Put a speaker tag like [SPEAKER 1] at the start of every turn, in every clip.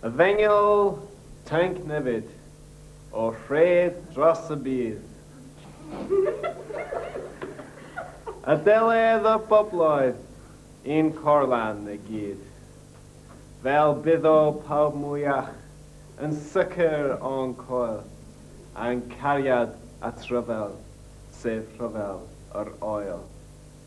[SPEAKER 1] Efengyl Tanc Nefyd, o Rhêd Dros y Byd. Adeledd y bobloedd i'n corlan i gyd. Fel byddo pawb mwyach yn sicr o'n coel, a'n cariad at ryfel, sef rhyfel yr oel.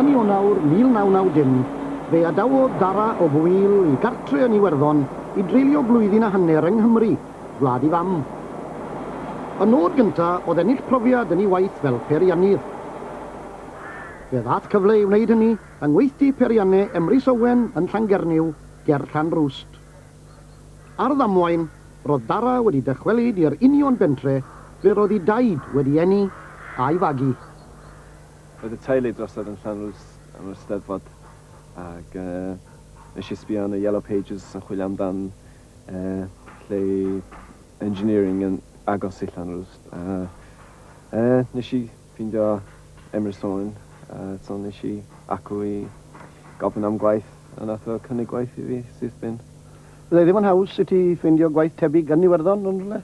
[SPEAKER 2] Yn Ionawr 1990, fe adawodd Dara o Bwil ei gartre yn Iwerddon i dreulio blwyddyn a hanner yng Nghymru, wlad ei fam. Y nod gyntaf oedd ennill profiad yn ei waith fel peiriannydd. Fe ddaeth cyfle i wneud hynny yng ngweithdy peirianne Emrys Owen yn Llangernyw ger Llanrwst. Ar ddamwain, roedd Dara wedi dychwelyd i'r union bentre ble roedd ei daid wedi eni a'i fagu.
[SPEAKER 1] Roedd y teulu drosodd yn Llanrwst am yr Steddfod ac nes i sbio yn y Yellow Pages yn chwilio amdan lle i engineering yn agos i Llanrwst a nes i Ffindio Emrys Thorne a so nes i acw i gofyn am gwaith a nath o cynnig gwaith i fi syth bin. Fyddai ddim yn
[SPEAKER 2] haws i ti ffindio gwaith tebyg yn Iwerddon yn rhywle?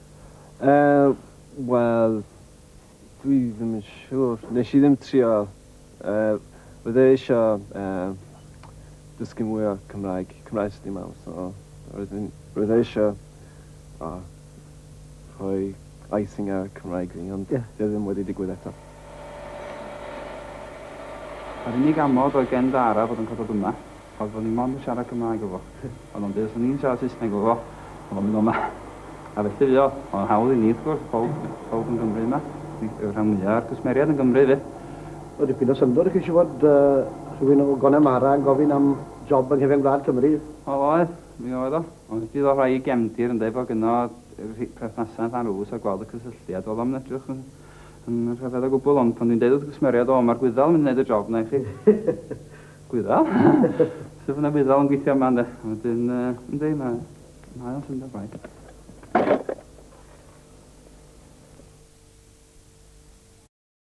[SPEAKER 2] Yy wel
[SPEAKER 1] dwi ddim yn siŵr. Nes i ddim trio yy fydde isio yy dysgu mwy o Cymraeg, Cymraeg sy dim mam so roedd yn roedd e isio o. rhoi icing ar y Cymraeg fi, ond yeah. fe ddim wedi digwydd eto.
[SPEAKER 3] Yr unig amod oedd gen Dara fod yn codod yma, oedd fod ni mond yn siarad Cymraeg efo. Ond ond os o'n i'n siarad Saesneg efo, oedd o'n mynd o'ma. A felly fi o, oedd o'n hawdd i ni, wrth gwrs, pawb, pawb yn Gymru yma. Yw'r rhan mwyaf ar gwsmeriad yn Gymru, fe. O, dipyn o
[SPEAKER 2] syndod i chi si fod uh, rhywun o Gonemara yn gofyn am job yng nghyfen gwlad Cymru. O, oedd, mi
[SPEAKER 3] oedd o. Ond bydd o rhai i gefndir ynde fod gynno rhi- perthnasau yn Llanrwst a gweld y cysylltiad. Wel o'm yn edrych yn yn rhyfedd o gwbwl ond pan dwi'n deud wrth y cwsmeriaid o ma'r gwyddel yn mynd i neud y job na i chi. Gwyddel? Sut fydda gwyddel yn gweithio yma ynde? A wedyn yy yndi ma' mae o'n syndod braidd.